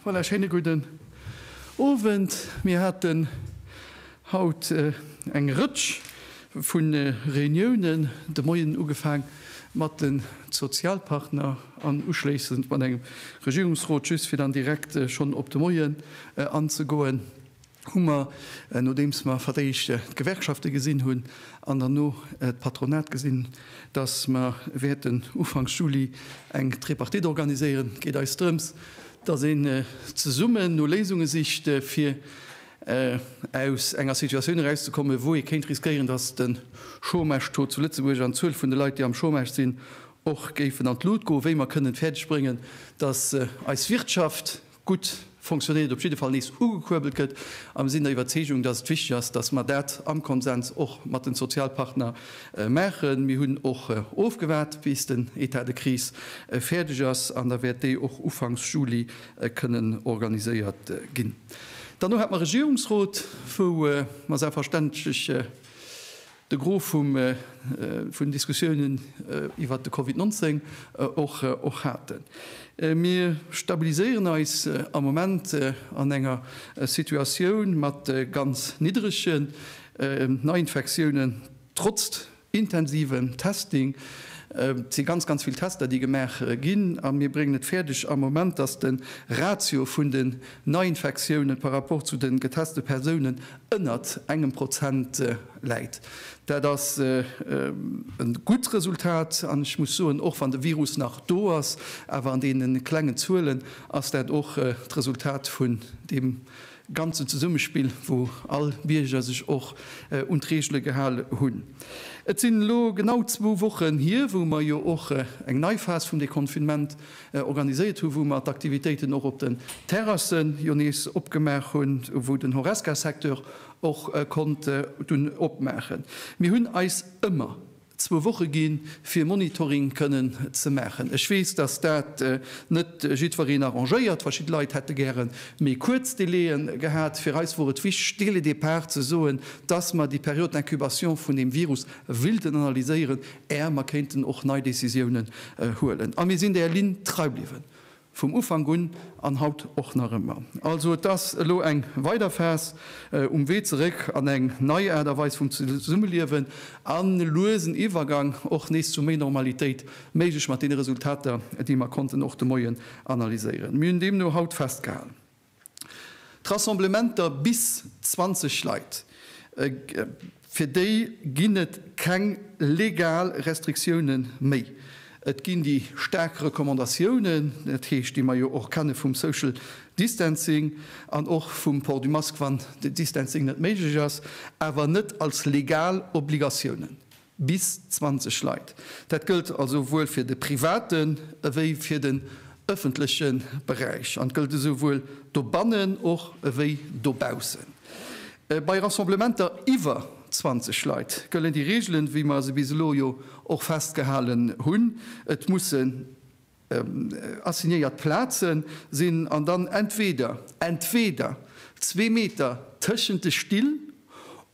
Voilà, schéine gudden Owend. Mir haten haut eng Rëtsch vu Reuniounen, de Moien ugefaang mat de Sozialpartner an uschléissend mat engem Regierungsrot. Just fir dann direkt schonn op de Moien anzegoen, hu mer, nodeems mer fir d'éischt d'Gewerkschafte gesinn hunn an derno d'Patronat, gesinn, dass mer wäerten ufanks Juli eng Tripartite organiséieren. Et geet eis drëms, dass een zesummen no Léisunge sicht, fir aus enger Situatioun erauszekommen, wou ee kéint riskéieren, dass de Chômage-Taux zu Lëtzebuerg an d'Zuel vun de Leit, déi am Chômage sinn, och géifen an d'Lut goen, wéi mer kënnen fäerdeg bréngen, dass eis Wirtschaft, gutt fonctionéiert, op jidde Fall nees ugekuerbelt gëtt. A mir sinn der Iwwerzeegung, datt et wichteg ass, datt mer dat am Konsens och mat den Sozialpartner maachen. Mir hunn och ofgewaart, bis den État de crise fäerdeg ass, an da wäert déi och ufanks Juli kënnen organiséiert ginn. Derno hat mer Regierungsrot, wou mer selbstverständlech, De Gros vum vun den Diskussiounen iwwert de Covid 19 och och haten. Mir stabiliséieren eis am Moment an enger Situatioun mat ganz niddrege Neiinfektiounen trotz intensivem Testing. Et si ganz, ganz vill Tester, déi gemaach ginn, a mir bréngen et fäerdeg am Moment, datt de Ratio vun den Neiinfektiounen par rapport zu de geteste Persounen ënnert engem Prozent läit. Dat ass e gutt Resultat an ech muss soen, och wann de Virus nach do ass, awer an deene klengen Zuelen ass dat och d'Resultat vun deem ganzen Zesummespill, wou all Bierger sech och un d'Reegele gehale hunn. Et sinn elo genau zwou Wochen hier, wou mer jo och eng nei Phas vum Deconfinement organiséiert hu wou mer d'Aktivitéiten och op den Terrassen jo nees opgemaach hunn, wou den Horesca Secteur och konnt dunn opmaachen. Mir hunn eis ëmmer zwou Woche gi fir Monitoring kënnen ze maachen. Ech weess, datt dat net jiddwereen arrangéiert. Verschidde Leit hätte gäre méi kuerz Délai gehat. Fir eis wor et wichteg dès le départ ze soen, datt mer déi Période d'incubation vun deem Virus wilden analyséieren, Är mer kéinten och nei Décisiounen huelen. A mir sinn där Linn trei bliwwen, vum Ufank un an haut och nach ëmmer. Also et ass elo eng weider Phas um Wee zeréck an eng nei Aart a Weis vum Zesummeliewen an e luesen Iwwergang och nees zu méi Normalitéit, méiglech mat deene Resultater, déi mer konnten och de Moien analyséieren. Mir hunn deemno haut festgehalen. D'Rassemblementer bis 20 Leit, fir déi ginn et keng legal Restriktioune méi. Et ginn déi staark Recommandatiounen, dat heescht, déi mer jo och kenne vum Social Distancing an och vum Port du Masque, wann de Distancing net méiglech ass, awer net als legal Obligatiounen. Bis 20 Leit. Dat gëllt also souwuel fir de privaten ewéi fir den ëffentleche Beräich an gëllt esouwuel dobannen och ewéi dobaussen. Bei Rassemblementer iwwer 20 Leit gëllen déi Reegelen, wéi mer se bis elo jo och festgehalen hunn. Et mussen. Assignéiert Plaze sinn an dann entweder entweder zwee Meter tëschent de Still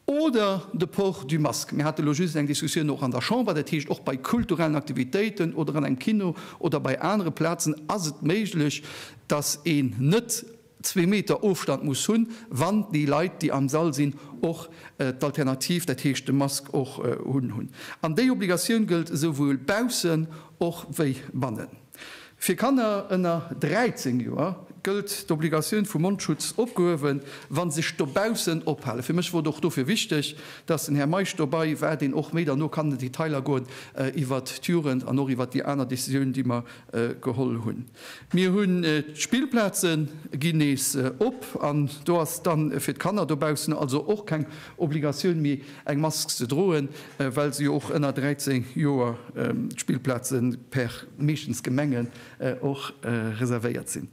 oder de Port du Masque. Mir hate lo just eng Diskussioun och an der Chamber, dat heescht och bei kulturellen Aktivitéiten oder an engem Kino oder bei anere Plazen ass et méiglech, dass een net zwee Meter Ofstand muss hunn, wann déi Leit, déi am Sall sinn, och d'Alternativ, dat heescht de Mask och un hunn. An déi Obligatioun gëllt esouwuel baussen och wéi bannen. Fir Kanner ënner 13 Joer gëllt d'Obligatioun vum Mondschutz opgehuewen, wa se sech dobaussen ophalen. Fir mech wor et och dofir wichteg, dass den Här Meisch dobei war, deen och méi derno kann an d'Detailer goen iwwert d'Jugend an och iwwert déi aner Décisioun, déi mer geholl hunn. Mir hunn d'Spillplaze ginn nees op an do ass dann fir d'Kanner dobaussen also och keng Obligatioun méi eng Mask ze droen, well se jo och ënner 13 Joer d'Spillplaze per meeschtens Gemengen och reservéiert sinn.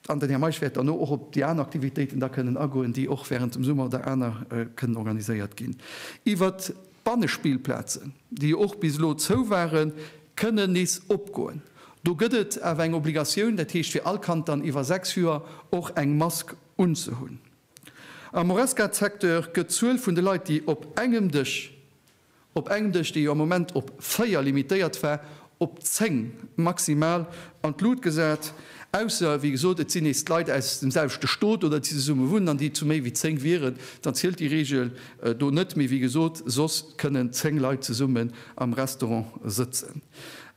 An den Här Meisch wäert derno och op déi aner Aktivitéiten da kënnen agoen, déi och während dem Summer oder aner kënnen organiséiert ginn. Iwwert d'Bannespillplazen, déi jo och bis elo zou waren, kënnen nees opgoen. Do gëtt et awer eng Obligatioun, dat heescht fir all Kand dann iwwer 6 Joer och eng Mask unzehunn. Am Horesca-Secteur gëtt d'Zuel vun de Leit, déi op engem Dësch Op eng Dësch, déi jo am Moment op 4 limitéiert war, op 10 maximal an d'Lut gesat. Ausser, wéi gesot, et sinn nees d'Leit aus dem selwechte Stot oder déi zesumme wunnen an déi zu méi wéi 10 wieren, dann zielt déi Reegel do net. Mee wéi gesot, soss kënnen 10 Leit zesummen am Restaurant sëtzen.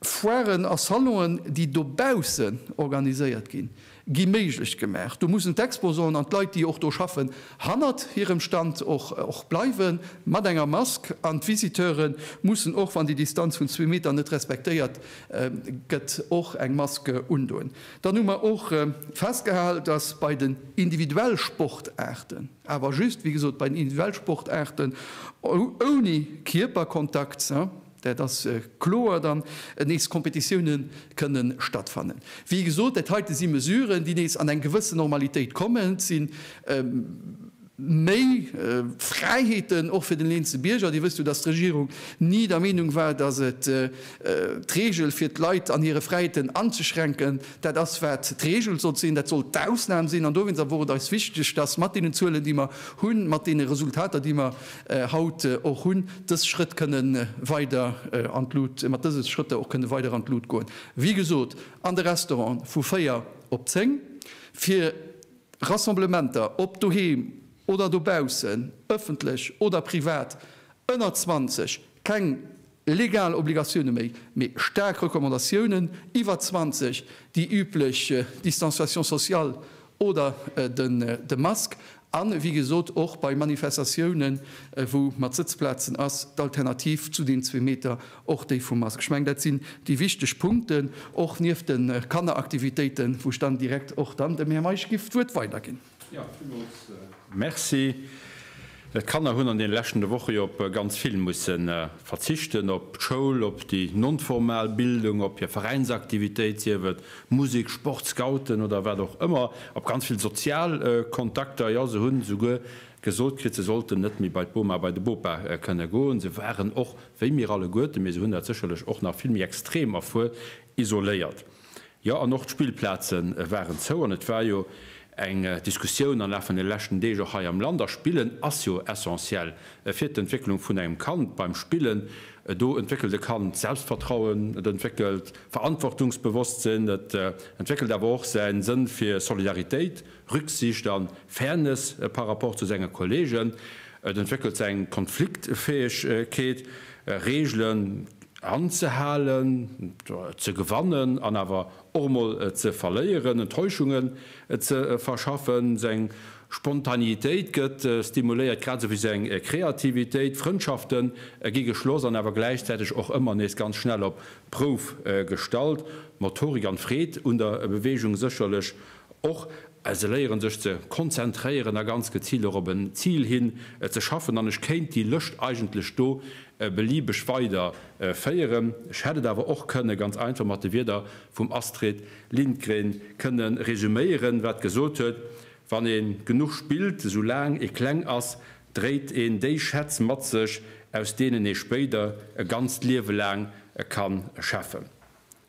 Foiren a Salonen, déi dobaussen organiséiert ginn, gi méiglech gemaach. Do mussen d'Exposanten an d'Leit, déi och do schaffen, hannert hirem Stand och bleiwe mat enger Mask. An d'Visiteure mussen och, wann déi Distanz vun zwee Meter net respektéiert gëtt, och eng Mask undoen. Dann hu mer och festgehal, dass bei den individuell Sportaarten, awer just, wéi gesot, bei den individuell Sportaarten ouni Kierperkontakt, Dat ass kloer dann nees Kompetitioune kënne stattfannen. Wéi gesot, dat heite si Mesuren, déi nees an eng gewëssen Normalitéit kommen. Et si méi Fräiheeten och fir den eenze Bierger. Dir wësst jo, datt d'Regierung ni der Meenung war, datt et d'Reegel fir d'Leit an hire Fräiheeten anzeschränken. Dat ass wat d'Reegel sollt sinn. Dat soll d'Ausnam sinn. An dowéinst awer wor et eis wichteg, datt mat deenen Zuelen, déi mer hunn, mat deene Resultater, déi mer haut och hunn, dës Schrëtt kënne weider an d'Lut, mat dëse Schrëtter och kënne weider an d'Lut goen, wéi gesot, an de Restaurante vu 4 op 10, fir Rassemblementer, ob doheem oder dobaussen, ëffentlech oder privat, ënner 20, keng legal Obligatioune méi, mee staark Recommandatiounen, iwwer 20, déi üblech Distanciation sociale oder de Mask, a wéi gesot och bei Manifestatiounen, wou mat Sëtzplazen ass, d'Alternativ zu deem zwee Meter och déi vum Mask. Ech mengen, dat sinn déi wichteg Punkten, och nieft de Kanneraktivitéiten, wou ech dann direkt och dann dem Här Meisch giff d'Wuert weiderginn. Jo, villmools Merci. D'Kanner hunn an deene leschtene Woche jo op ganz vill musse verzichten, op d'Schoul, op déi non-formal Bildung, op hir Veräinsaktivitéit, sief et Musek, Sport, Scouten oder wat och ëmmer, op ganz vill sozial Kontakter. Jo, se hunn esouguer gesot kritt, se sollten net méi bei d'Boma, bei de Bopa kënne goen. Se waren och, wéi mir alleguerten, mee se hunn dat sécherlech och nach vill méi extrem erfuer, isoléiert. Jo, an och d'Spillplaze waren zou. An et war jo eng Diskussioun am Laf vun de leschten Deeg och hei am Land. A Spillen ass jo essentiell fir d'Entwécklung vun engem Kand. Beim Spillen, do entwéckelt e Kand Selbstvertrauen, et entwéckelt Verantwortungsbewosstsinn, et entwéckelt awer och säi Sënn fir Solidaritéit, Rücksicht an Fairness par rapport zu sengen Kollegen, et entwéckelt seng Konfliktfähegkeet, Regelen anzehalen, ze gewannen an awer och mol ze verléieren, Enttäuschungen ze verschaffen, seng Spontaneitéit gëtt stimuléiert, grad esou wéi seng Kreativitéit, Frëndschaften gi geschloss an awer gläichzäiteg och ëmmer nees ganz schnell op d'Prouf gestallt, Motorik an Freed un der Bewegung sécherlech Och well se léieren, sech ze konzentréieren a ganz geziilt och op en Zil hin ze schaffen. An ech kéint déi Lëscht eigentlech do beliebeg weider féieren. Ech hätt et awer och kënne ganz einfach mat de Wierder vum Astrid Lindgren kënne resüméieren, wat gesot huet, Wann ee genuch spillt, esou laang ee kleng ass, dréit een déi Schätz mat sech, aus deenen ee spéider e ganzt Liewe laang ka schäffen.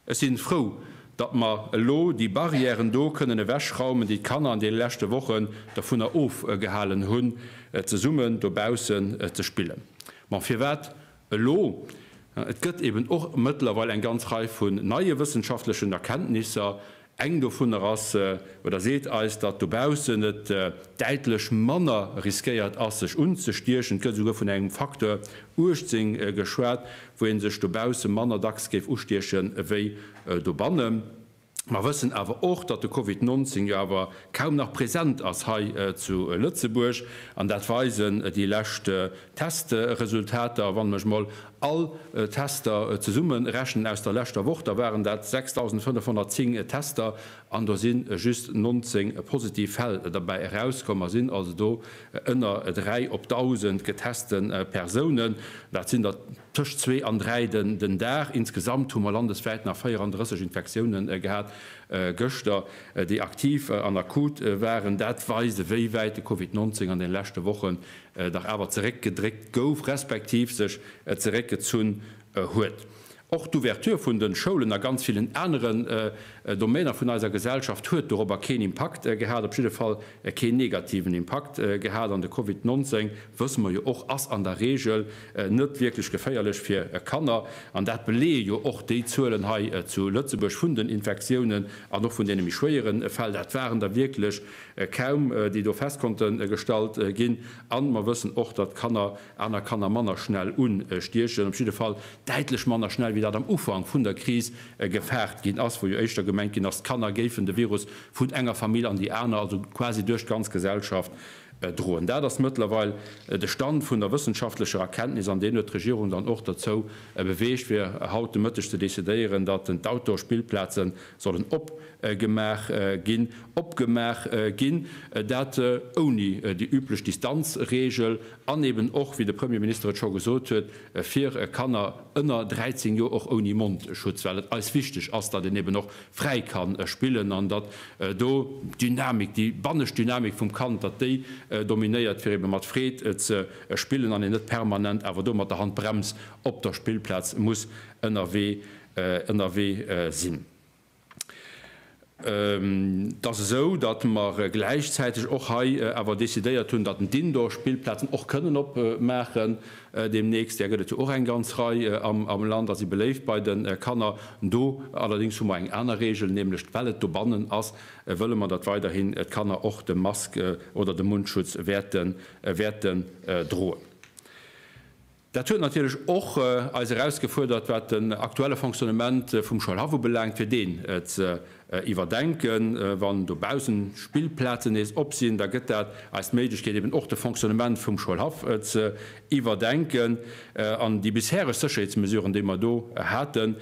Ech sinn frou, datt mer elo déi Barrièren do kënnen ewechraumen, déi d'Kanner an deene leschte Wochen dervunner ofgehalen hunn, zesummen dobaussen ze spillen. Bon, firwat elo? Et gëtt eben och mëttlerweil eng ganz Rei vun neie wëssenschaftlechen Erkenntnisser, Eng dovunner ass, oder seet eis, datt dobaussen et däitlech manner riskéiert ass sech unzestiechen. Et gëtt esouguer vun engem Facteur 18 geschwat, wou ee sech dobausse manner dacks géif ustieche wéi dobanne. Mer wëssen awer och, datt de Covid 19 jo awer kaum nach present ass hei zu Lëtzebuerg, an dat weisen déi lescht Testresultater, wann ech mol all Tester zesumme rechnen aus der leschter Woch, da waren dat 6.510 Tester an do si just 19 positiv Fäll derbäi erauskomm. Mer sinn also do ënner 3 op 1.000 geteste Persounen. Dat sinn der tëscht zwee an dräi den Dag. Insgesamt hu mer landeswäit nach 34 Infektioune gehat gëschter, déi aktiv an akut waren. Dat weist, ewéi wäit de Covid 19 an deene leschte Woche dach awer zeréck gedréckt gouf respektiv sech zeréck gezunn huet. Och d'Ouverture vun den Schoulen a ganz villen aneren Domainer vun eiser Gesellschaft huet dorobber keen Impakt gehat, op jidde Fall keen negativen Impakt gehat. An de Covid 19, wësse mer jo och, ass an der Regel net wierklech geféierlech fir Kanner. An dat beleeë jo och déi Zuelen hei zu Lëtzebuerg vun den Infektiounen an och vun deene méi schwéieren Fäll. Dat waren der wierklech kaum déi do fest konnte gestallt ginn, an mer wëssen och, datt Kanner aner Kanner manner schnell unstiechen, op jidde Fall däitlech manner schnell, wéi dat am Ufank vun der Kris gefaart ginn ass, wou jo éischter gemengt ginn ass, d'Kanner géifen de Virus vun enger Famill an déi aner, also quasi duerch d'ganz Gesellschaft droen. Dat ass mëttlerweil de Stand vun der wëssenschaftlecher Erkenntnis, an deen huet d'Regierung dann och derzou beweegt, fir haut de Mëtteg ze decidéieren, datt d'Outdoor-Spillplaze sollen op gemaach ginn, opgemaach ginn, dat ouni déi üblech Distanzregel an eben och, wéi de Premierminister et scho gesot huet, fir Kanner ënner 13 Joer och ouni Mondschutz, well et eis wichteg ass, datt een eben och fräi ka spillen an datt do d'Dynamik, déi bannescht Dynamik vum Kand, datt déi dominéiert, fir eben mat Freed ze spillen an een net permanent awer do mat der Handbrems op der Spillplaz muss ënnerwee sinn. Et ass esou, datt mer gläichzäiteg och hei awer decidéiert hunn, datt d'Indoor-Spillplazen och kënnen opmaachen deemnächst. Där gëtt et jo och eng ganz Rei am Land a si beléift bei de Kanner. Do allerdéngs hu mer eng aner Reegel, nämlech well et dobannen ass, wëlle mer, datt weiderhin d'Kanner och de Mask oder de Mundschutz wäerte droen. Dat huet natierlech och eis erausgefuerdert, wat den aktuelle Fonctionnement vum Schoulhaff ubelaangt, fir deen ze iwwerdenken. Wann dobaussen Spillplazen nees op sinn, da gëtt dat eis d'Méiglechkeet, eben och de Fonctionnement vum Schoulhaff ze iwwerdenken. An déi bishereg Sécherheetsmesuren, déi mer do haten,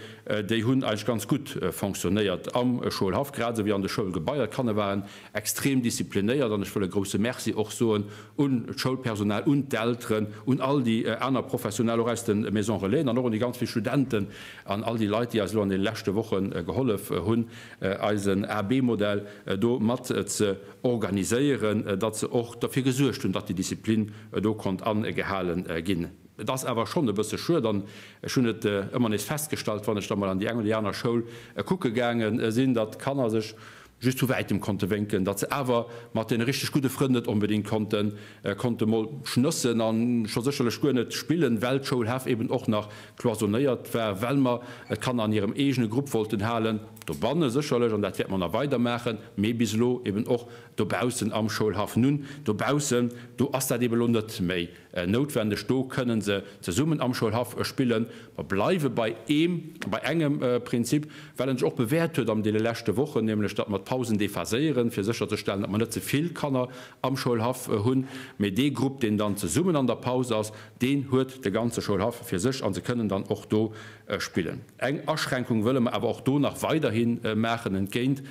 déi hunn eigentlech ganz gutt fonctionnéiert am Schoulhaff, grad esou wéi an de Schoulgebaier. D'Kanner waren extrem disziplinéiert an ech wëll e grouse Merci och soen un d'Schoulpersonal, un d'Elteren, un all déi aner Professionell och aus de Maison Relaisen an och un déi ganz vill Studenten an all déi Leit, déi eis elo an deene leschte Woche gehollef hunn, eisen AB-Modell do mat ze organiséieren, datt se och dofir gesuergt hunn, datt déi Disziplin do konnt agehale ginn. Et ass awer schonn e bësse schued an ech hunn et ëmmer nees festgestallt, wann ech da mol an déi eng oder déi aner Schoul kucke gaange sinn, datt d'Kanner sech just vu wäitem konnte wénken, datt se awer mat deene richteg gudde Frënn net onbedéngt konnte konnte mol schnëssen a scho sécherlech guer net spillen, well d'Schoulhaf eben och nach cloisonnéiert war, well mer d'Kanner an hirem eegene Grupp wollten halen, dobanne sécherlech, an dat wäerte mer nach weider maachen, mee bis elo eben och dobaussen am Schoulhaff. Nun, dobaussen, do ass dat eben elo net méi. Noutwendeg. Do kënnen se zesummen am Schoulhaff spillen. Mer bleiwe bei eem, bei engem Prinzip, well en sech och bewäert huet an deene leschte Wochen, nämlech datt mer d'Pausen déphaséieren, fir sécherzestellen, datt mer net ze vill Kanner am Schoulhaff hunn. Mee dee Grupp, deen dann zesummen an der Paus ass, deen huet de ganze Schoulhaff fir sech a se kënnen dann och do spillen. Eng Aschränkung wëlle mer awer och do nach weiderhi maachen, entgéint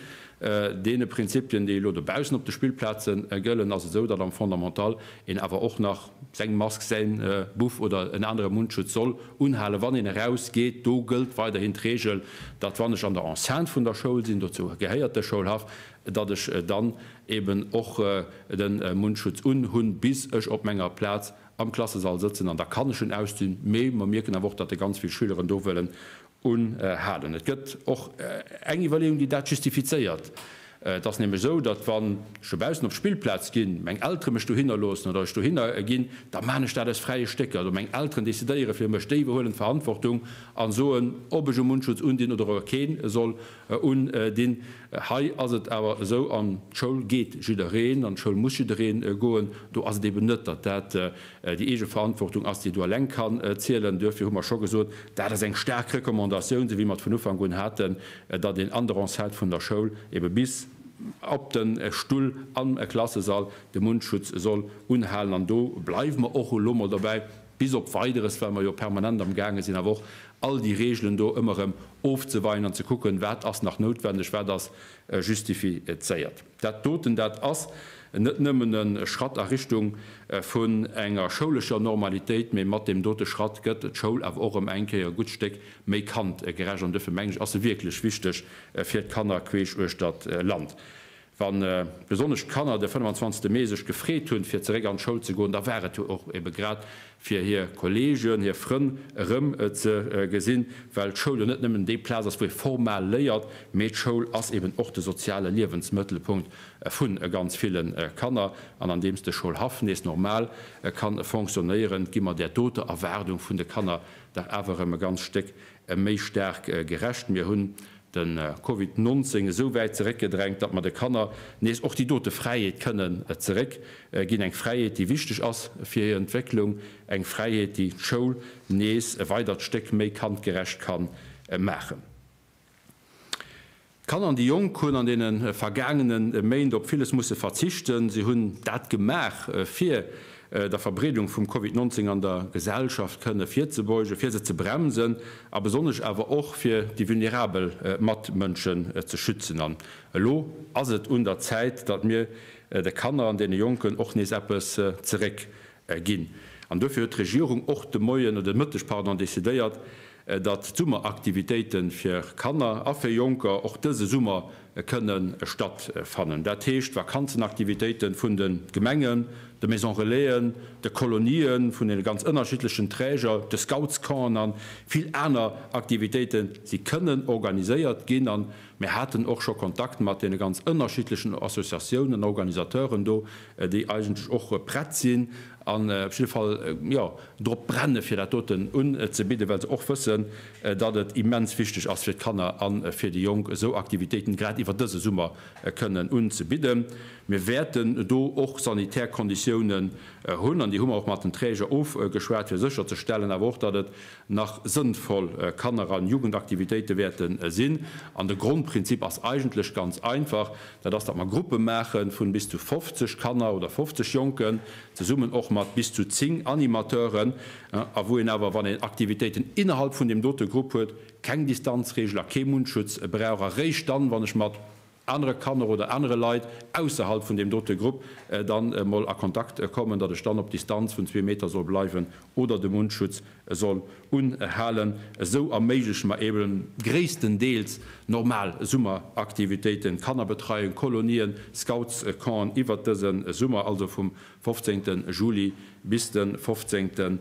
Deene Prinzipien, déi elo dobaussen op de Spillplaze gëllen, ass et esou, datt am Fondamental een awer och nach seng Mask, säin Buff oder en anere Mundschutz soll unhalen, wann een eraus geet. Do gëllt weiderhin d'Regel, datt wann ech an der Enceinte vun der Schoul sinn, dozou gehéiert de Schoulhaff, datt ech dann eben och de Mundschutz unhunn, bis ech op menger Plaz am Klassesall sëtzen. An da kann ech en ausdinn. Mee mer mierken awer och, datt ganz vill Schüleren do wëllen un halen. Et gëtt och eng Iwwerleeung, déi dat justifizéiert. Et ass nämlech esou, datt wann ech do baussen op d'Spillplaz ginn, meng Eltere mech dohinner loossen oder ech dohinner ginn, da maachen ech dat aus fräie Stécker. Also meng Elteren decidéiere fir mech, déi iwwerhuelen d'Verantwortung a soen, ob ech e Mundschutz undinn oder ower keen soll undinn. Hei ass et awer esou, an d'Schoul geet jiddereen an d'Schoul muss jidderee goen, do ass et eben net, datt dat Déi eege Verantwortung ass, déi do eleng kann zielen. Duerfir hu mer scho gesot, dat ass eng staark Recommandatioun, esou wéi mer et vun Ufank un haten, datt een an der Enceinte vun der Schoul ebe bis op de Stull am Klassesall de Mundschutz soll unhalen. An do bleiwe mer och elo mol dobäi bis op Weideres, well mer jo permanent am gaange sinn awer och all déi Regelen do ëmmer erëm ofzeweien an ze kucken, wat ass nach noutwendeg, wat ass justifizéiert. Dat doten, dat ass net nëmmen e Schratt a Richtung vun enger schoulescher Normalitéit, mee mat deem dote Schratt gëtt d'Schoul awer och ëm eng Kéier e gutt Stéck méi kandgerecht. An duerfir, meng ech, ass se wierklech wichteg fir d'Kanner queesch uechter d'Land. Wann besonnesch d'Kanner de 25. Mee sech gefreet hunn, fir zeréck an d'Schoul ze goen, da war et jo och ebe grad, fir hir Kolleegen, hir Frënn erëm ze gesinn, well d'Schoul jo net nëmmen déi Plaz ass, wou ee formal léiert, mee d'Schoul ass eben och de soziale Liewensmëttelpunkt vu ganz ville Kanner. An andeems de Schoulhaff nees normal ka fonctionnéieren, gi mer där doter Erwaardung vun de Kanner dach awer erëm e ganz Stéck méi staark gerecht. Mir hunn de Covid 19 esou wäit zeréck gedrängt, datt mer de Kanner nees och déi dote Fräiheet kënnen zeréck ginn, eng Fräiheet, déi wichteg ass fir hir Entwécklung, eng Fräiheet, déi d'Schoul nees e weidert Stéck méi kandgerecht ka maachen. D'Kanner an déi Jonk hunn an deene vergaangene Méint op villes musse verzichten. Si hunn dat gemaach, fir der Verbreedung vum Covid 19 an der Gesellschaft kënne virzebeugen, fir se ze bremsen a besonnesch awer och fir déi vulnerabel Matmënschen ze schützen. An elo ass et un der Zäit, datt mir de Kanner an deene Jonken och nees eppes zeréck ginn. An duerfir huet d'Regierung och de Moien, oder de Mëtteg, pardon, decidéiert, datt d'Summeraktivitéite fir Kanner a fir Jonker och dëse Summer kënnen stattfannen, dat heescht d'Vakanzenaktivitéite vun de Gemengen, de Maison Relaisen, de Kolonië vun deene ganz ënnerschiddlechen Träger, de Scoutscampen a vill aner Aktivitéite si kënnen organiséiert ginn. A mir haten och scho Kontakt mat deene ganz ënnerschiddlechen Associatiounen, Organisateuren do, déi eigentlech och prett sinn an op jidde Fall, jo, drop brennen, fir dat doten unzebidden, well se och wëssen, datt et immens wichteg ass fir d'Kanner a fir déi Jonk, esou Aktivitéiten grad iwwer dëse Summer kënnen unzebidden. Mir wäerten do och sanitär Konditiounen hunn, an déi hu mer och mat den Träger ofgeschwat, fir sécherzestellen awer och, datt et nach sënnvoll Kanner a Jugendaktivitéite wäerte sinn. An de Grondprinzip ass eigentlech ganz einfach, dat ass, datt mer Gruppe maache vun bis zu 50 Kanner oder 50 Jonken, zesummen och mat bis zu 10 Animateuren, a wou een awer, wann een Aktivitéiten innerhalb vun deem dote Grupp huet, keng Distanzregel a kee Mundschutz brauch, a réischt dann, wann ech mat anere Kanner oder anere Leit ausserhalb vun deem dote Grupp dann emol a Kontakt kommen, datt ech dann op Distanz vun zwee Meter soll bleiwen oder de Mundschutz E soll un e halen, esou erméigleche mer eben gréisstendeels normal Summeraktivitéiten, Kannerbetreiung, Kolonien, Scoutscampen, iwwert dëse Summer, also vum 15 Juli bis de 15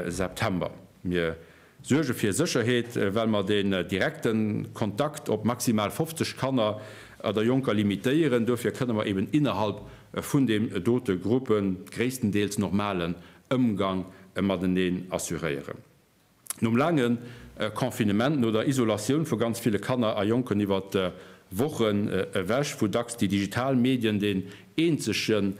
September. Mir suerge fir Sécherheet, well mer den direkte Kontakt op maximal 50 Kanner oder Jonker limitéieren. Dofir kënne mer eben innerhalb vun deem dote Gruppe gréisstendeels normalen Ëmgang mateneen assuréieren. Nom laange Confinement, no der Isolatioun vu ganz ville Kanner a Jonken iwwer Wochen ewech, wou dacks déi digital Medien deen eenzege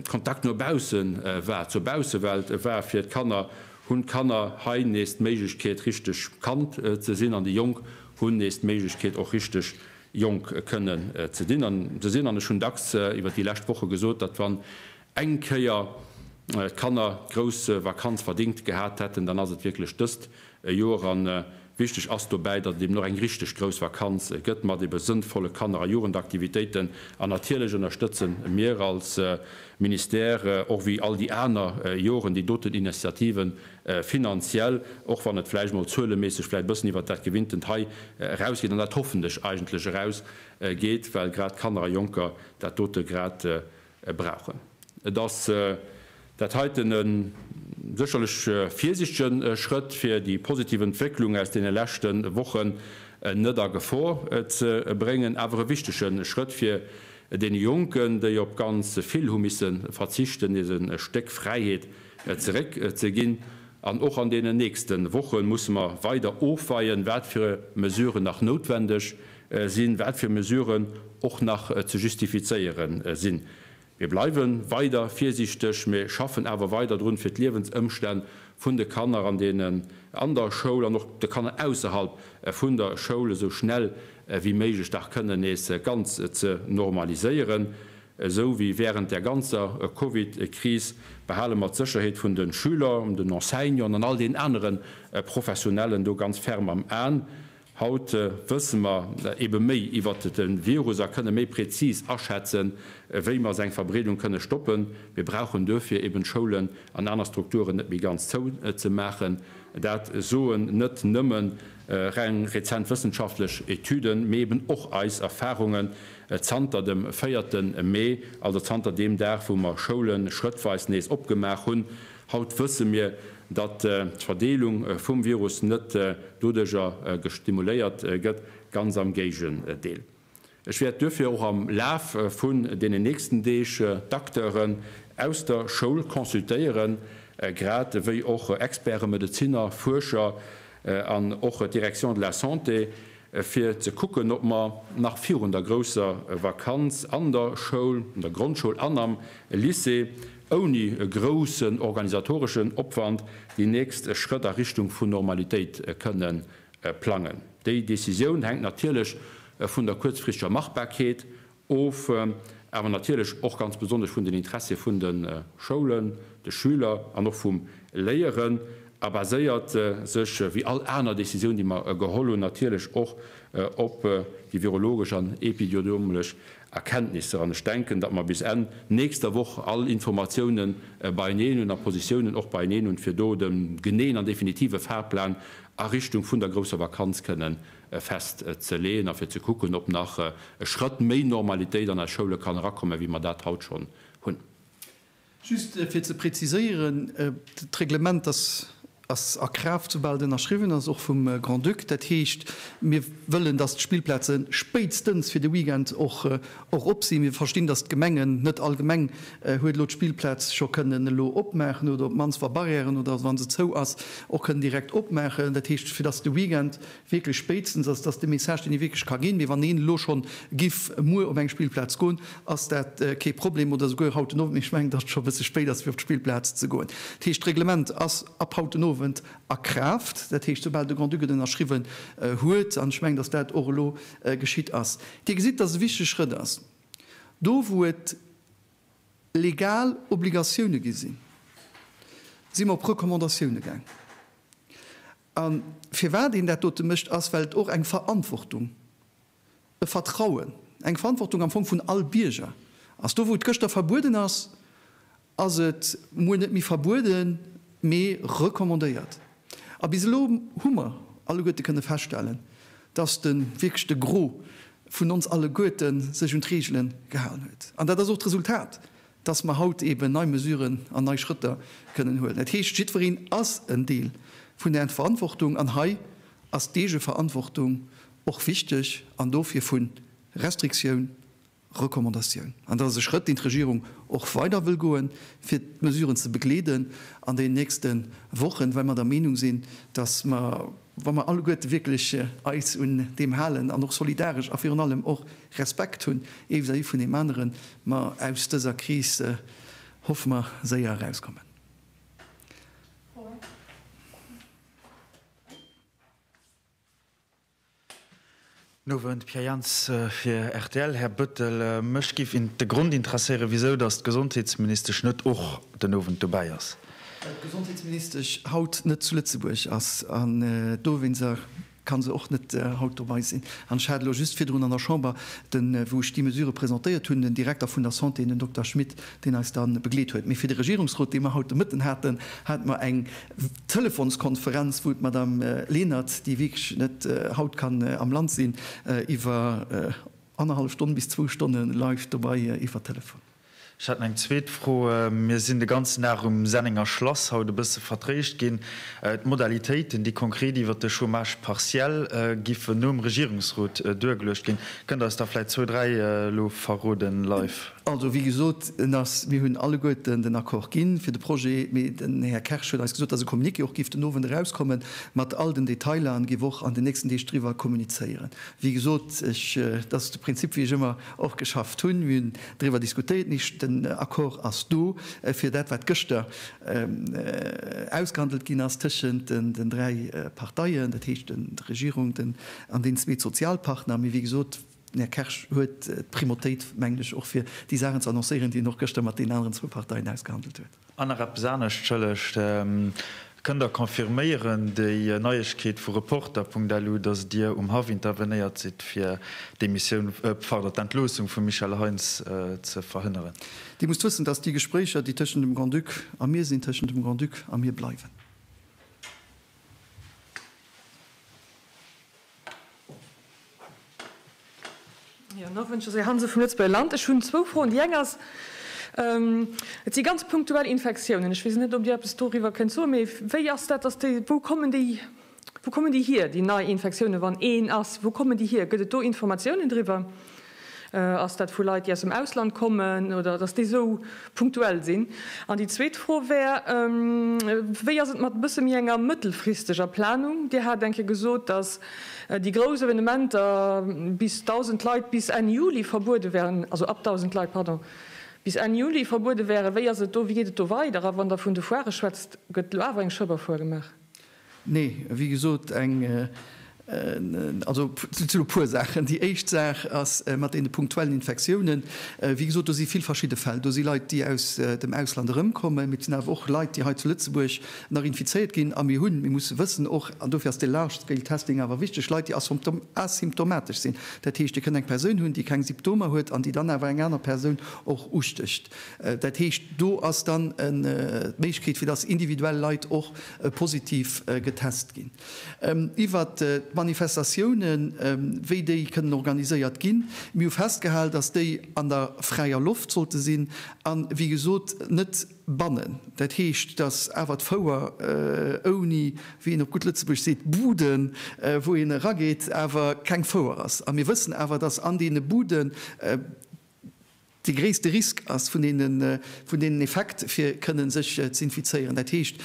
Kontakt no bausse war, zur Baussewelt war fir d'Kanner, hunn d'Kanner hei nees d'Méiglechkeet richteg Kand ze sinn an déi Jonk hunn nees d'Méiglechkeet och richteg Jonk kënnen ze sinn. An ech hunn dacks iwwer déi lescht Woche gesot, datt wann Eng Kéier d'Kanner d'grouss Vakanz verdingt gehat hätten, dann ass et wierklech dëst Joer. A wichteg ass dobäi, datt et eben och eng richteg grouss Vakanz gëtt mat ebe sënnvolle Kanner a Jugendaktivitéiten. An natierlech ënnerstëtze mir als Ministère, och wéi all déi aner Joren, déi doten Initiative finanziell, och wann et vläicht mol zueleméisseg vläicht e bëssen iwwert dat Gewinntent hei erausgeet an dat hoffentlech eigentlech erausgeet, well grad d'Kanner a Jonker dat dote grad brauchen. Et ass dat heiten e sécherlech virsichtege Schrëtt, fir déi positiv Entwécklung aus deene leschte Wochen net a Gefor ze bréngen, awer e wichtege Schrëtt, fir deene Jonken, déi op ganz vill hu misse verzichten, nees e Stéck Fräiheet zeréck ze ginn. An och an deenen nächste Woche musse mer weider ofweien, wat fir Mesuren nach noutwendeg sinn, wat fir Mesuren och nach ze justifizéiere sinn. Mir bleiwe weider virsiichteg, mä schaffen awer weider drun, fir d'Liewensëmstänn vun de Kanner an den an der Schoul an och de Kanner ausserhalb vun der Schoul esou schnell wéi méiglech dach kënnen nees ganz ze normaliséieren. Esou wéi während där ganzer Covid-Kris behale mer d'Sécherheet vun de Schüler, den Enseignanten an all den anere Professionellen do ganz ferm am Aen. Haut wësse mer ebe méi iwwer de Virus a kënne méi präzis aschätzen, wéi mer seng Verbreedung kënne stoppen. Mir brauchen duerfir eben d'Schoulen an aner Strukturen net méi ganz zou ze maachen. Dat soen net nëmme reng rezent wëssenschaftlech Etüden, mee eben och eis Erfarungen zanter dem véierte Mee, also zanter deem Dag, wou mer Schoule schrëttweis nees opgemaach hunn. Haut wësse mir, datt d'Verdeelung vum Virus net doduerjer gestimuléiert gëtt, ganz am Géigendeel. Ech wäert duerfir och am Laf vun deenen nächsten Deeg d'Acteuren aus der Schoul consultéieren, grad ewéi och Experte, Medeziner, Fuerscher an och d'Direction de la Santé, fir ze kucken, ob mer nach virun der grousser Vakanz an der Schoul, an der Grondschoul an am Lycée, ouni e groussen organisatoreschen Opwand déi nächst Schrëtt a Richtung vun Normalitéit kënne plangen. Déi Decisioun hänkt natierlech vun der kuerzfristeger Machbarkeet of, awer natierlech och ganz besonnesch vun den Interessie vun de Schoulen, de Schüler an och vum Léieren a baséiert sech, wéi all aner Décisioun, déi mer geholl hunn, natierlech och op déi virologesch an epidiodomlesch Erkenntnisser. An ech denken, datt mer bis Enn nächster Woch all Informatiounen beieneen hunn a Positiounen och beieneen hunn, fir do de geneeën an definitive Fahrplan a Richtung vun der grousser Vakanz kënnen fest ze leeën a fir ze kucken, ob nach e Schrëtt méi Normalitéit an eis Schoule kann erakommen, wéi mer dat haut schonn hunn. Just fir ze preziséieren, D'Reglement ass a Kraaft, soubal et ënnerschriwwen ass, och vum Grand-Duc. Dat heescht, mir wëllen, dass d'Spillplaze spéitstens fir de Weekend och op sinn. Mir verstinn, dass d'Gemengen, net all Gemeng huet elo d'Spillplaz scho kënnen elo opmaachen oder op d'mannst, wa Barrièren oder wann se zou ass, och kënnen direkt opmaachen. Dat heescht, fir dass de Weekend, wierklech spéitstens, ass dat de Message, deen ee wierklech ka ginn, mee wann een elo schonn giff muer op eng Spillplaz goen, ass dat kee Problem, oder souguer haut den Owend, mee ech mengen, datt et scho e bësse spéit ass, fir op d'Spillplaz ze goen. Dat heescht, d'Reglement ass ab haut den Owend a Kraaft, dat heescht, soubal de Grand-Duc et ënnerschriwwen huet, an ech mengen, datt dat och elo geschitt ass. Dir gesitt, datt et e wichtege Schrëtt ass, do wou et legal Obligatioune gi sinn, si mer op Recommandatioune gaangen, A firwat een dat dote mécht, ass, well et och eng Verantwortung, e Vertrauen, eng Verantwortung am Fong vun all Bierger ass. Do, wou et gëschter verbueden ass, ass et muer net méi verbueden, mee recommandéiert. A bis elo hu mer alleguerte kënne feststellen, dass de wierklech de Gros vun ons alleguerte sech un d'Reegele gehalen huet. An dat ass och d'Resultat dass mer haut eeben nei Mesuren an nei Schrëtter kënnen huelen. Dat heescht, jiddwereen ass en Deel vun der Verantwortung, an hei ass d'Eegeverantwortung och wichteg, an dofir vu Restriktioun, Recommandatioun. An dat ass e Schrëtt, deen d'Regierung och weider wëll goen, fir d'Mesuren ze begleeden an den nächste Wochen, well mer der Meenung sinn, dass mer, wa mer alleguerte wierklech eis un deem halen an och solidaresch a virun allem och, Respekt hunn ee vis-à-vis vun deem aneren, ma aus dëser Kris hoffe mer séier erauskommen. Guten Owend, Pierre Jans fir rtl. Här Bëttel, mech géif de Grond interesséieren, wisou datt d'Gesondheetsministesch net och den Owend dobäi ass. Well d'Gesondheetsministesch haut net zu Lëtzebuerg ass an dowéinst. Kann se och net haut dobei sinn. An ech hat elo just virdrun an der Chamber, den, wou ech déi Mesure presentéiert hunn, den Direkter vun der Santé, den Dokter Schmit, deen eis da begleet huet. Mee fir de Regierungsrot, dee mer haut de Mëtten haten, hate mer eng Telefonskonferenz, wou d'Madame Lenert, déi wierklech net haut kann am Land sinn, iwwer annerhallef Stonn bis zwou Stonne live dobei iwwer Telefon. Ech hat nach eng zweet Fro. Mir sinn de ganzen Dag um Sennenger Schlass haut e bësse vertréischt ginn. D'Modalitéiten, déi konkret iwwert de Chômage partiel giffen nom Regierungsrot duergeluecht ginn, kënnt Der eis der vläicht zwou, dräi elo verroden live? Also, wéi gesot, en ass, mir hunn alleguerten den Accord ginn fir de Projet, mee den Här Kersch huet eis gesot, dass e Communiqué och géif den Owend erauskommen mat all den Detailer an géif och an den nächsten Deeg driwwer kommunizéieren. Wéi gesot, ech, dat ass de Prinzip, wéi ech ëmmer och geschafft hunn. Driwwer diskutéiert nich, den Accord ass do fir dat wat gëschter ausgehandelt ginn ass tëschent den dräi Parteien, dat heescht der Regierung, den an deenen zwee Sozialpartner. Mee wéi gesot, den Här Kersch huet d'Primautéit, mengen ech, och fir déi Saachen ze annoncéieren, déi en och gëschter mat deenen aneren zwou Parteien ausgehandelt huet. An nach eppes anescht, Schëllecht, Kënnt Der confirméieren déi Neiegkeet vu Reporter.lu, datt Dir um Haff intervenéiert sidd, fir d'Demissioun, pardon, d'Entloossung vum Michel Heintz ze verhënneren? Dir musst wëssen, datt déi Gespréicher, déi tëschent dem Grand-Duc a mir sinn, tëschent dem Grand-Duc a mir bleiwen. Jo, Nowend, Josée Hansen vum Lëtzebuerger Land. Ech hunn zwou Froen. Déi eng ass, Et si ganz punktuell Infektiounen. Ech weess net, ob Dir eppes doriwwer kënnt soen. Mee wéi ass dat, dass déi, wou kommen déi, wou kommen déi hier, déi nei Infektiounen, wann een ass, wou kommen déi hier? Gëtt et do Informatiounen driwwer? Ass dat vu Leit, déi aus dem Ausland kommen, oder dass déi esou punktuell sinn? An déi zweet Fro wär, Wéi ass et mat e bësse méi enger mëttelfristeger Planung? Dir hat eng Kéier gesot, dass déi grouss Evenementer bis 1.000 Leit bis Enn Juli verbuede wären, also ab 1.000 Leit, pardon, bis Enn Juli verbuede wären. Wéi ass et do? Wéi geet et do weider? A wann Der vun de Foirë schwätzt, gëtt elo awer eng Schëbberfoire gemaach? Nee, wéi gesot, eng, also et sinn e puer Saachen. Déi éischt Saach ass mat deene punktuellen Infektiounen. Wéi gesot, do si vill verschidde Fäll. Do si Leit, déi aus dem Ausland erëmkommen, mee et sinn awer och Leit, déi hei zu Lëtzebuerg nach infizéiert ginn. A mir hunn, mir musse wëssen och, an dofir ass dee Large Scale Testing awer wichteg, Leit, déi asymptomatesch sinn. Dat heescht, Dir kënnt eng Persoun hunn, déi keng Symptomer huet an déi dann awer eng aner Persoun och ustécht. Dat heescht, do ass dann d'Méiglechkeet, fir dass individuell Leit och positiv getest ginn. Iwwert d'Manifestatiounen, wéi déi kënnen organiséiert ginn, mir hu festgehal, datt déi an der fräier Loft sollte sinn a wéi gesot net bannen. Dat heescht, datt awer d'Fouer ouni, wéi een op gutt Lëtzebuergesch seet, Bude wou een erageet, awer keng Fouer ass. A mir wëssen awer, datt an deene Buden, dee gréisste Risk ass, vun deenen Effekt, fir kënnen sech ze infizéieren. Dat heescht,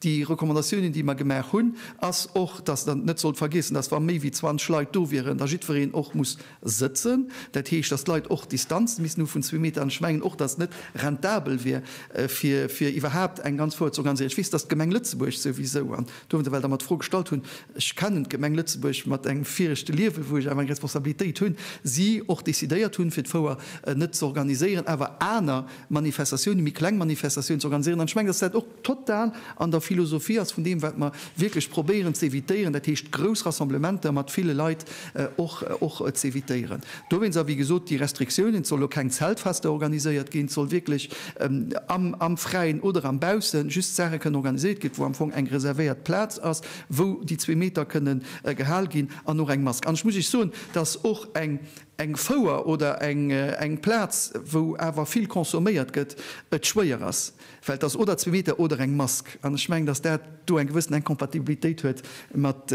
déi Recommandatiounen, déi mer gemaach hunn, ass och, dass Der net sollt vergiessen, dass wa méi wéi 20 Leit do wieren, da jiddwereen och muss sëtzen. Dat heescht, dass d'Leit och Distanzen missten hu vun zwee Meter. An ech mengen och, dass et net rentabel wier, fir iwwerhaupt eng ganz Foire ze organiséieren. Ech weess, dass d'Gemeng Lëtzebuerg souwisou, an Do wou se well da mer d'Fro gestallt hunn, ech kennen d'Gemeng Lëtzebuerg mat engem viregte Liewe wou ech awer eng Responsabilitéit hunn, si och decidéiert hunn fir d'Fouer net ze organiséieren, awer aner Manifestatiounen, méi kleng Manifestatiounen ze organiséieren. An ech mengen, datt dat och total an der Philosophie ass vun deem wat mer wierklech probéieren ze evitéieren, dat heescht grouss Rassemblementer mat ville Leit, och z'évitéieren. Dowéinst, a wéi gesot, déi Restriktiounen, et soll elo keng Zeltfester organiséiert ginn, et soll wierklech am Fräien oder am Baussen just Saache kënnen organiséiert ginn, wou am Fong eng reservéiert Plaz ass, wou déi zwee Meter kënnen gehal ginn an och eng Mask. An ech muss Iech soen, datt och eng Fouer oder eng Plaz, wou awer vill consomméiert gëtt, et schwéier ass, well et ass oder zwee Meter oder eng Mask. An ech mengen, datt dat do eng gewëssen Incompatibilitéit huet mat.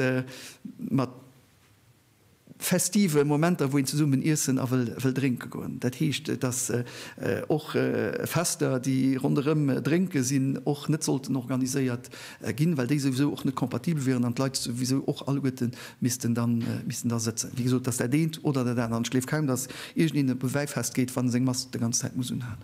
Festive Momenter, wou een zesummen iessen a wëll drénke goen. Dat heescht, dass och Fester, déi ronderëm Drénke sinn, och net sollten organiséiert ginn, well déi souwisou och net kompatibel wieren an d'Leit souwisou och alleguerte missten da sëtzen. Wéi gesot, dass dat eent oder dat anert, ech gleef kaum, dass iergendeen op e Wäifest geet, wann e seng Mask d'ganz Zäit muss unhalen.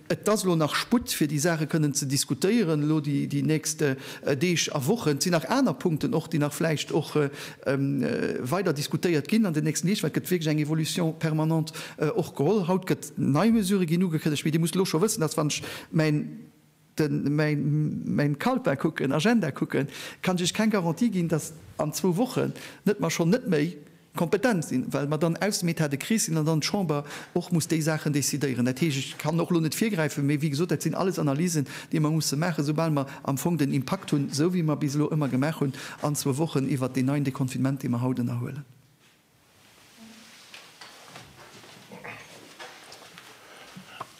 Et ass elo nach Sputt, fir déi Saache kënnen ze diskutéieren, elo déi nächst Deeg a Wochen. Et sinn nach aner Punkten och, déi nach vläicht och weider diskutéiert ginn an den nächsten Deeg, well et gëtt wierklech eng Évolution permanente och geholl. Haut gëtt nei Mesurë ginn ugekënnegt, mee Dir musst elo scho wëssen, dass, wann ech mäin Calepin kucken, Agenda kucken, kann ech Iech keng Garantie ginn, dass an zwou Wochen net mer schonn net méi, Kompetent sinn, well mer dann aus dem Etat de crise sinn an dann d'Chamber och muss déi Saachen décidéieren. Dat heescht, ech kann och elo net virgräifen, mee wéi gesot, dat sinn alles Analysen, déi mer musse maachen, esoubal mer am Fong den Impakt hunn, esou wéi mer bis elo ëmmer gemaach hunn an zwou Wochen iwwert deen neien Deconfinement, dee mer haut ënnerhuelen.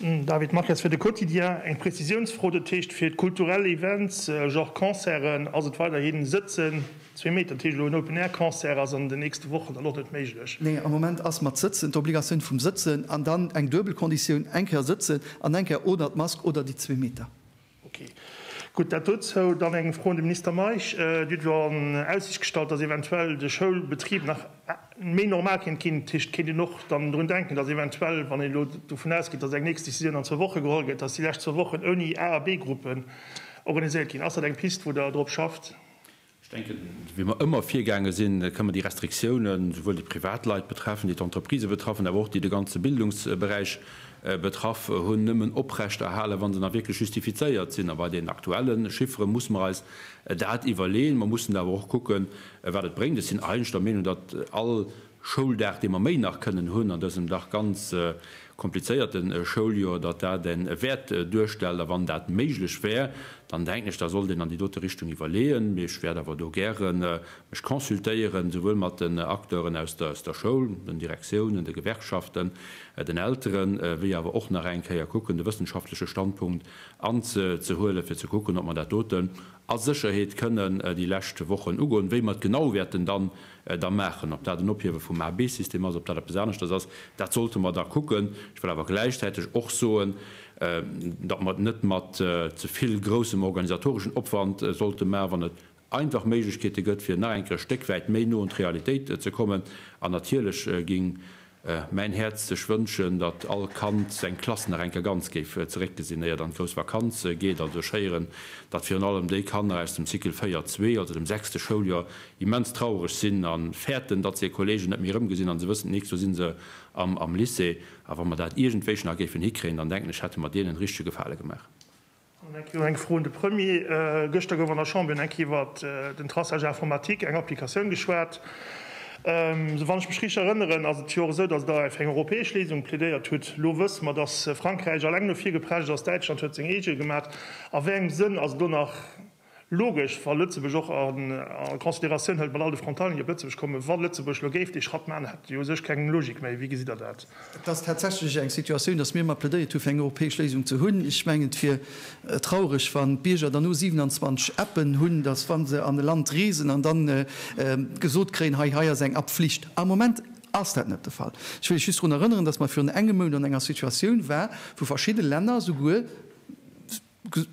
David Maches, fir de Quotidien, Eng Prezisiounsfro, dat heescht fir d'kulturell Events, Genre Concerten, ass et weiderhin Sëtzen, zwee Meter, dat heescht elo en Open Air Concert ass an den nächste Wochen dann och net méiglech? Nee, am Moment ass mat Sëtzen, d'Obligatioun vum Sëtzen an dann eng duebel Konditioun, eng Kéier sëtzen an eng Kéier oder d'Mask oder déi zwee Meter. Ok, gutt, dat dozou. Dann eng Fro un de Minister Meisch. Dir hutt elo an Aussicht gestallt, dass eventuell de Schoulbetrib nach méi normal kéint ginn. Heescht, kéint een och dann drun denken, dass eventuell, wann een elo dovun ausgeet, dass eng nächst Decisioun an zwou Woche geholl gëtt, dass déi lescht zwou Wochen ouni A a B-Gruppen organiséiert ginn? Ass dat eng Pist, wou Der drop schafft? Ech denken, wéi mer ëmmer virgaange sinn, kënnen mer déi Restriktiounen, esouwuel déi privat Leit betreffen, déi d'Entreprisë betreffen, awer och déi de ganze Bildungsberäich betraff hunn, nëmmen oprecht erhalen, wa se nach wierklech justifizéiert sinn. A bei den aktuelle Chiffere musse mer eis dat iwwerleeën. Mer mussen awer och kucken, wat et bréngt. Ech sinn eigentlech der Meenung, datt all Schouldag, dee mer méi nach kënnen hunn an dësem dach ganz komplizéierten Schouljoer, datt dat e Wäert duerstellt. A wann dat méiglech wär, dann denken ech, da sollt een an déi dote Richtung iwwerleeën. Mee ech wäert awer do gäre mech consultéieren, souwuel mat den Acteuren aus der Schoul, den Direktiounen, de Gewerkschaften, den Elteren, wéi awer och nach eng Kéier kucken, de wëssenschaftleche Standpunkt anzehuelen, fir ze kucken, ob mer dat doten a Sécherheet kënnen déi lescht Wochen ugoen. Wéi mer et genau wäerten dann da maachen. Ob dat en Ophiewe vum A-B-System ass, ob dat eppes aneschters ass, dat sollte mer da kucken. Ech wëll awer gläichzäiteg och soen, datt mer et net mat ze vill groussem organisatoreschen Opwand sollte maachen, wann et einfach Méiglechkeete gëtt, fir nach eng Kéier e Stéck wäit méi no un d'Realitéit ze kommen. An natierlech géing Mäin Häerz sech wënschen, datt all Kand seng Klass nach eng Kéier ganz géif zeréckgesinn, éier et an d'grouss Vakanz geet. Also ech héieren, datt virun allem déi Kanner aus dem Cycle 4 zwee, also dem sechste Schouljoer, immens traureg sinn a fäerten, datt se hir Kollegen net méi erëmgesinn. A se wëssen, nix, do si se am Lycée. A wa mer dat iergendwéi nach géifen hikréien, dann denken ech, hätte mer deenen e richtege Gefale gemaach. An eng Kéier och eng Fro un de Premier. Gëschter gouf an der Chamber eng Kéier iwwert den Traçage informatique, eng Applikatioun, geschwat. Wann ech mech richteg erënneren, ass et jo och esou, datt Der fir eng europäesch Léisung plädéiert hutt. Elo wësse mer, datt Frankräich eleng no vir geprescht ass, Däitschland huet seng eege gemaach. A wéi engem Sënn ass elo nach Logesch, wa Lëtzebuerg och a Consideratioun hëlt, mat all de Frontalieren, déi op Lëtzebuerg kommen, wa Lëtzebuerg elo géif dee Schratt maachen, hätt jo u sech keng Logik méi. Wéi gesitt Der dat? Et ass tatsächlech eng Situatioun, datt mir ëmmer plädéiert hu fir eng europäesch Léisung ze hunn. Ech mengen, et wier traureg, wann d'Bierger dann no 27 Appen hunn, datt wa se an e Land reesen an da gesot kréien, hei, hei ass eng App Flicht. Am Moment ass dat net de Fall. Ech wëll lech just drun erënneren, datt mer virun engem Mount an enger Situatioun war, wou verschidde Länner souguer,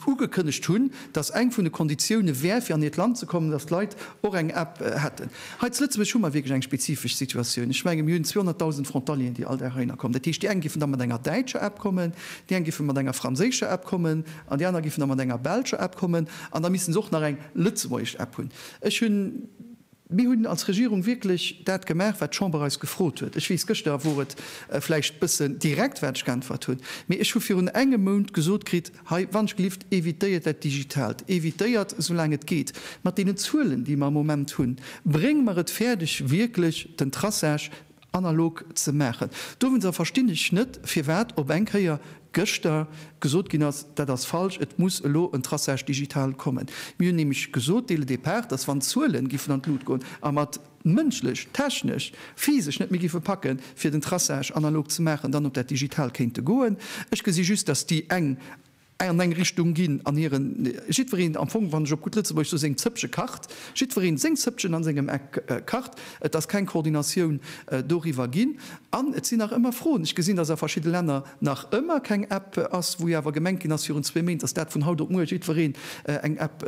ugekënnegt hunn, dass eng vun de Konditioune wär, fir an hiert Land ze kommen, dass d'Leit och eng App hätten. Hei zu Lëtzebuerg hu mer wierklech eng spezifesch Situatioun. Ech mengen, mir hunn 200.000 Frontalieren, déi all Dag heihinner kommen. Dat heescht, déi eng giffen da mat enger däitscher App kommen, déi eng giffen mat enger franséischer App kommen an déi aner giffen da mat enger belscher App kommen. An da misste se och nach eng lëtzebuergesch App hunn. Ech hunn Mir hunn als Regierung wierklech dat gemaach, wat d'Chamber eis gefrot huet. Ech weess, gëschter wor et vläicht bëssen direkt, wat ech geäntwert hunn, mee ech hu virun engem Mount gesot kritt, Hei, wannechgelift, evitéiert dat Digitaalt, evitéiert, soulaang et geet, mat deenen Zuelen, déi mer am Moment hunn, brénge mer et fäerdeg, wierklech den Traçage, analog ze maachen. Dowéinster verstinn ech net, firwat op eng Kéier gëschter gesot ginn ass, dat ass falsch, et muss elo en Traçage digital kommen. Mir hunn nämlech gesot dès le départ, dass wann d'Zuelen giffen an d'Lut goen a mer et mënschlech, technesch, physesch net méi giffe packe fir den Traçage analog ze maachen, dann op dat digital kéinte goen. Ech gesi just, dass déi eng Ei an eng Richtung ginn an hiren, jiddwereen am Fong, wann ech op gutt Lëtzebuergesch soe, seng Zëppche kacht, jiddwereen seng Zëppchen an sengem Eck kacht. Et ass keng Koordinatioun doriwwer ginn an et sinn nach ëmmer Froen. Ech gesinn, dass a verschidde Länner nach ëmmer keng App ass, wou jo awer gemengt ginn ass virun zwee Méint, dass dat vun haut op muer jiddwereen eng App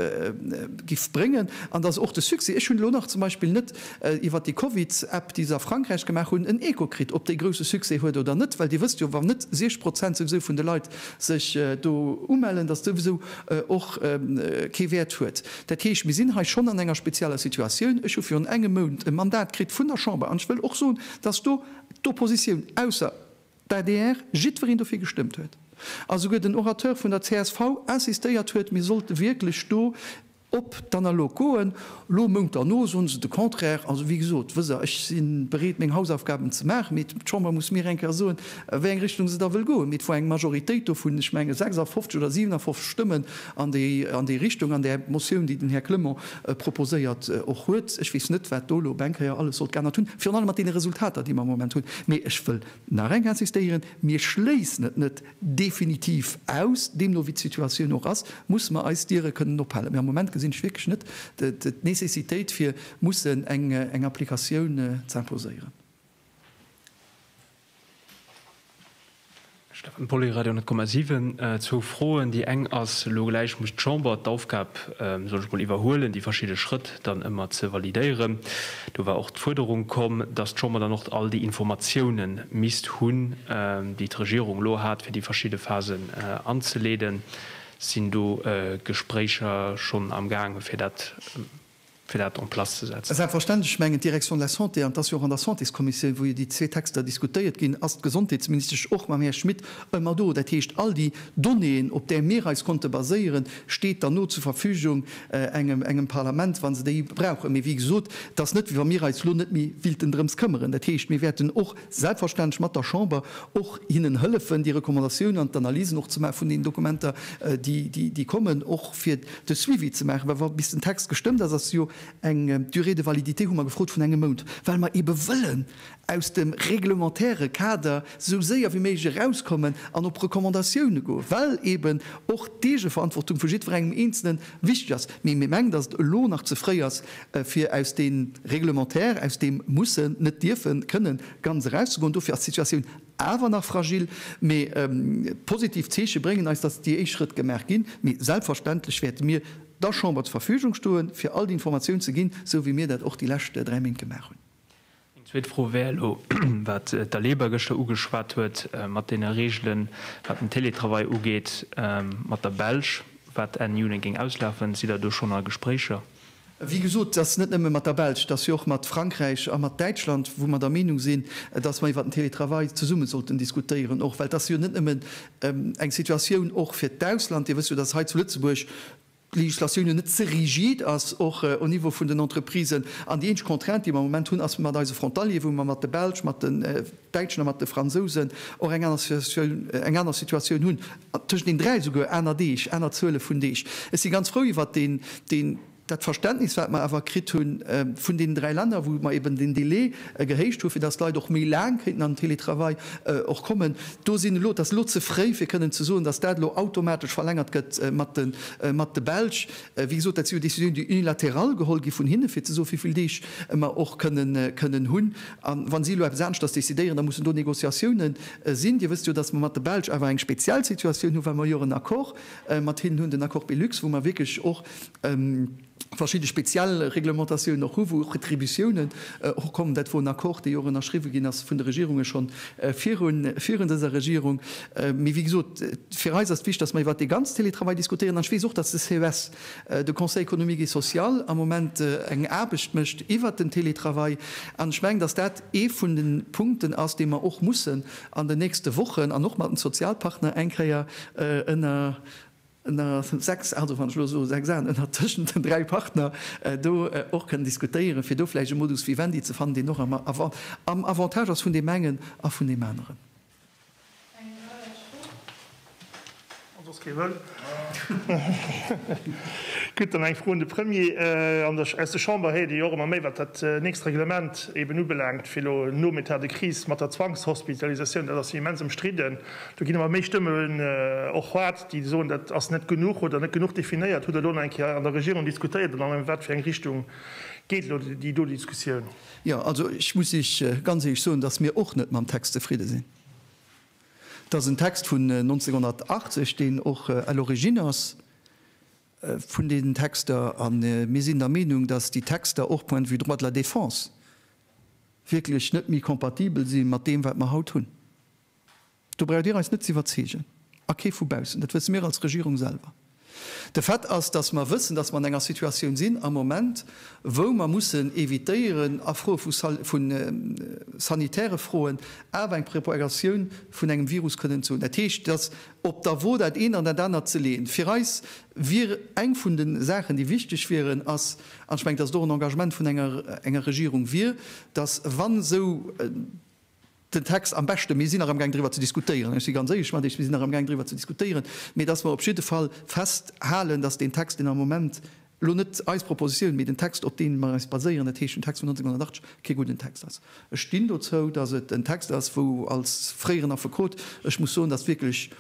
giff bréngen an dass och de Succès, ech hunn elo nach zum Beispill net iwwert déi Covid-App, déi se a Frankräich gemaach hunn, en Echo kritt, ob déi grousse Succès huet oder net, well Dir wësst jo, wa net 60 Prozent souwisou vun de Leit sech do umellen, datt souwisou och kee Wäert huet. Dat heescht, mir sinn hei schonn an enger spezieller Situatioun. Ech hu virun engem Mount e Mandat kritt vun der Chamber an ech wëll och soen, datt do d'Oppositioun, ausser d'ADR, jiddwereen dofir gestëmmt huet a souguer den Orateur vun der csv insistéiert huet, mir sollte wierklech do, Op d'Analog goen. Lo Mount derno soen se de Contraire. Also wéi gesot, wësst Der, ech si bereet meng Hausaufgaben ze maachen, mee d'Chamber muss mir eng Kéier soen, wéi eng Richtung se da wëll goen. Mee et wor eng Majoritéit do vun, ech menge, 56 oder 57 Stëmmen an déi, an déi Richtung, an där Motioun, déi den Här Clement proposéiert och huet. Ech weess net, wat do lo op eng Kéier alles sollt geännert hunn, virun allem mat deene Resultater, déi mer am Moment hunn. Mee ech wëll nach eng insistéieren, Mir schléissen et net definitiv aus. Deemno wéi d'Situatioun och ass, mussen mer eis Diere kënnen ophalen. Mä am Moment gesinn ech wierklech net d'Nécessitéit fir mussen eng Applikatioun ze imposéieren. Stefan Polli, Radio 10,7. Zwou Froen. Déi eng ass elo gläich, muss d'Chamber d'Aufgab, soll ech mol, iwwerhuelen, déi verschidde Schrëtt dann ëmmer ze validéieren. Do war och d'Fuerderung komm, dass d'Chamber dann och all déi Informatioune misst hunn, déi d'Regierung elo hat, fir déi verschidde Phasen anzeleeden. Et sinn do Gespréicher schonn am gaange fir dat fir dat en place ze setzen. Selbstverständlech, ech mengen d'Direction de la Santé, an et ass jo och an der Santéskommissioun, wou jo déi zwee Texter diskutéiert ginn, ass d'Gesondheetsministesch och mam Här Schmit ëmmer do. Dat heescht, all déi Donnéeën, op där mir eis konnte baséieren, steet dann no zur Verfügung. engem Parlament, wa se déi brauchen. Mee wéi gesot, et ass net, wéi wa mir eis elo net méi wéilten drëms këmmeren. Dat heescht, mir wäerten och selbstverständlech mat der Chamber och hinnen hëllefen, déi Recommandatiounen an d'Analysen och ze maachen vun deenen Dokumenter, déi kommen, och fir de Suivi ze maachen. Well wa bis den Text gestëmmt ass, ass jo eng Durée de validité, hu mer gefrot, vun engem Mount, well mer eebe wëllen aus dem reglementäre Kader esou séier wéi méiglech erauskommen an op Recommandatioune goen, well eeben och d'Eegeverantwortung vu jiddwerengem Eenzelen wichteg ass. Mee mir mengen, datt et elo nach ze fréi ass, fir aus deem Reglementaire, aus deem Mussen, net dierfen, kënnen, ganz erauszegoen. Dofir ass d'Situatioun awer nach fragil. Mee positiv Zeeche bréngen eis, datt déi éischt Schrëtt gemaach ginn. Mee selbstverständlech wäerte mir der Chamber zur Verfügung stoen, fir all déi Informatioun ze ginn, esou wéi mir dat och déi lescht dräi Méint gemaach hunn. Eng zweet Fro wär elo, wat d'Aleba gëschter ugeschwat huet mat deene Reegelen, wat den Teletravail ugeet, mat der Belsch, wat Enn Juni géing auslafen. Sidd Der do schonn a Gespréicher? Wéi gesot, et ass net nëmme mat der Belsch, et ass jo och mat Frankräich a mat Däitschland, wou mer der Meenung sinn, dass mer iwwert den Teletravail zesumme sollten diskutéieren och, well et ass jo net nëmmen eng Situatioun och fir d'Ausland. Dir wësst jo, dass hei zu Lëtzebuerg, d'Législatioun jo net ze rigid ass, och au Niveau vun den Entreprisen, an déi eenzeg Contrainte, déi mer am Moment hunn, ass mat eise Frontalieren, wou mer mat de Belsch, mat den Däitschen a mat de Fransousen och eng aner Situatioun, eng aner Situatioun hunn, tëschent den dräi souguer aner Deeg, aner Zuele vun Deeg. Ech si ganz frou iwwert deen, deen, dat Verständnis, wat mer awer kritt hu vun deenen dräi Länner, wou mer eben den Délai e gehéicht hu fir datt d'Leit och méi laang kéinten an den Télétravail och kommen, do sinn elo, et ass elo ze fréi fir kënnen ze soen, datt dat elo automatesch verlängert gëtt mat de Belsch. Wéi gesot, dat si jo Décisionen déi unilateral geholl gi vun hinne fir ze soen, wéi vill Deeg mer och kënnen hunn. A wa si elo eppes aneschters décidéieren, da mussen do Négociatioune sinn. Dir wësst jo, datt mer mat de Belsch awer eng speziell Situatioun hu well mer jo och en Accord mat hinnen hunn, den Accord Belux, wou mer wierklech och, verschidde speziell Reglementatiounen och hu wou och Retributiounen och kommen. Dat wor en Accord dee jo och ënnerschriwwe ginn ass vun de Regierunge schonn virun dëser Regierung. Mee wéi gesot, fir eis ass et wichtig, datt mer iwwert dee ganz Télétravail diskutéieren. An ech weess och, datt de ces, de Conseil économique et social, am Moment eng Aarbecht mécht iwwert den Télétravail. An ech mengen, datt dat ee vun de Punkten ass, dee mer och mussen an den nächste Wochen an och mat den Sozialpartner eng Kéier ënner, ënner sechs, also wann ech elo soe sechs Aen, ënner tëschent den dräi Partner do och kënnen diskutéieren, fir do vläicht e Modus vivendi ze fannen, deen och am Avantage ass vun deem engen a vun deem aneren. Gutt, dann eng Fro un de Premier. Aus der Chamber héiert ee jo och ëmmer méi, wat dat nächst Reglement eben ubelaangt, fir elo nom Etat de crise mat der Zwangshospitalisatioun. Dat ass jo immens ëmstridden. Do ginn ëmmer méi Stëmmen och. déi soen, dat ass net genuch oder net genuch definéiert. Hutt Der elo nach eng Kéier an der Regierung diskutéiert an an wat fir eng Richtung geet elo déi do Diskussioun? Jo, also ech muss Iech ganz éierlech soen, datt mir och net mam Text zefridde sinn. Et ass en Text vun 1980, deen och à l'origine ass vun deenen Texter. A mir sinn der Meenung, datt déi Texter och point de vue droit de la défense wierklech net méi kompatibel si mat deem wat mer haut hunn. Do braucht Dir eis net ze iwwerzeegen, a kee vu baussen. Dat wësse mir als Regierung selwer. De Fait ass, datt mer wëssen, datt mer an enger Situatioun sinn am Moment, wou mer mussen evitéieren, a Froe vu sanitäre Froen, awer eng Propagatioun vun engem Virus kënnen ze hunn. Dat heescht, datt op der Wo dat eent an dat anert ze leeën, fir eis wier eng vun de Saachen, déi wichteg wieren, ass, an ech mengen, datt et och en Engagement vun enger Regierung wier, datt, wann esou, den Text am beschte. Mir sinn nach amgaang driwwer ze diskutéieren, ech si ganz éierlech mat Iech, mir sinn nach amgaang driwwer ze diskutéieren, mä dass mer op jidde Fall festhalen, dass deen Text, deen am Moment, elo net eis Propositioun, mä den Text, op deem mer eis baséieren, dat heescht den Text vun 1980, kee gudden Text ass. Ech stinn dozou, dass et en Text ass, wou als fréieren Affekot ech muss soen, dass wierklech,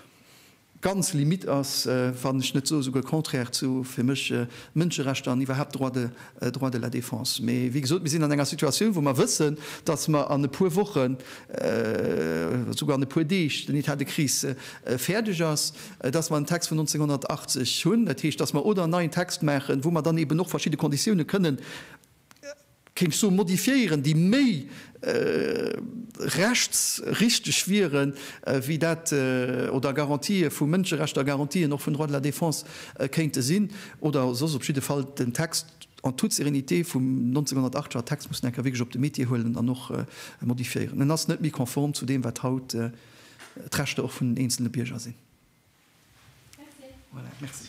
ganz limite ass, wann ech net soe souguer contraire zu, fir mech, Mënscherechter an iwwerhaapt Droit de, Droit de la défense. Mee wéi gesot, mir sinn an enger Situatioun, wou mer wëssen, dass mer an e puer Wochen, souguer an e puer Deeg den État de crise fäerdeg ass, dass mer en Text vun 1980 hunn. Dat heescht, dass mer oder en neien Text maachen, wou mer dann eeben och verschidde Konditiounen kënnen, kéint ech soen, modifiéieren, déi méi rechtsrichteg wieren, wéi dat oder Garantië vu Mënscherechter, Garantien och vun Droit de la défense kéinte sinn, oder soss op jidde Fall den Text en toute sérénité vum 1908 war. Text muss een enker wierklech op de Métier huelen an och modifiéieren. En ass net méi konform zu deem, wat haut d'Rechter och vun den eenzele Bierger sinn. Voilà, merci.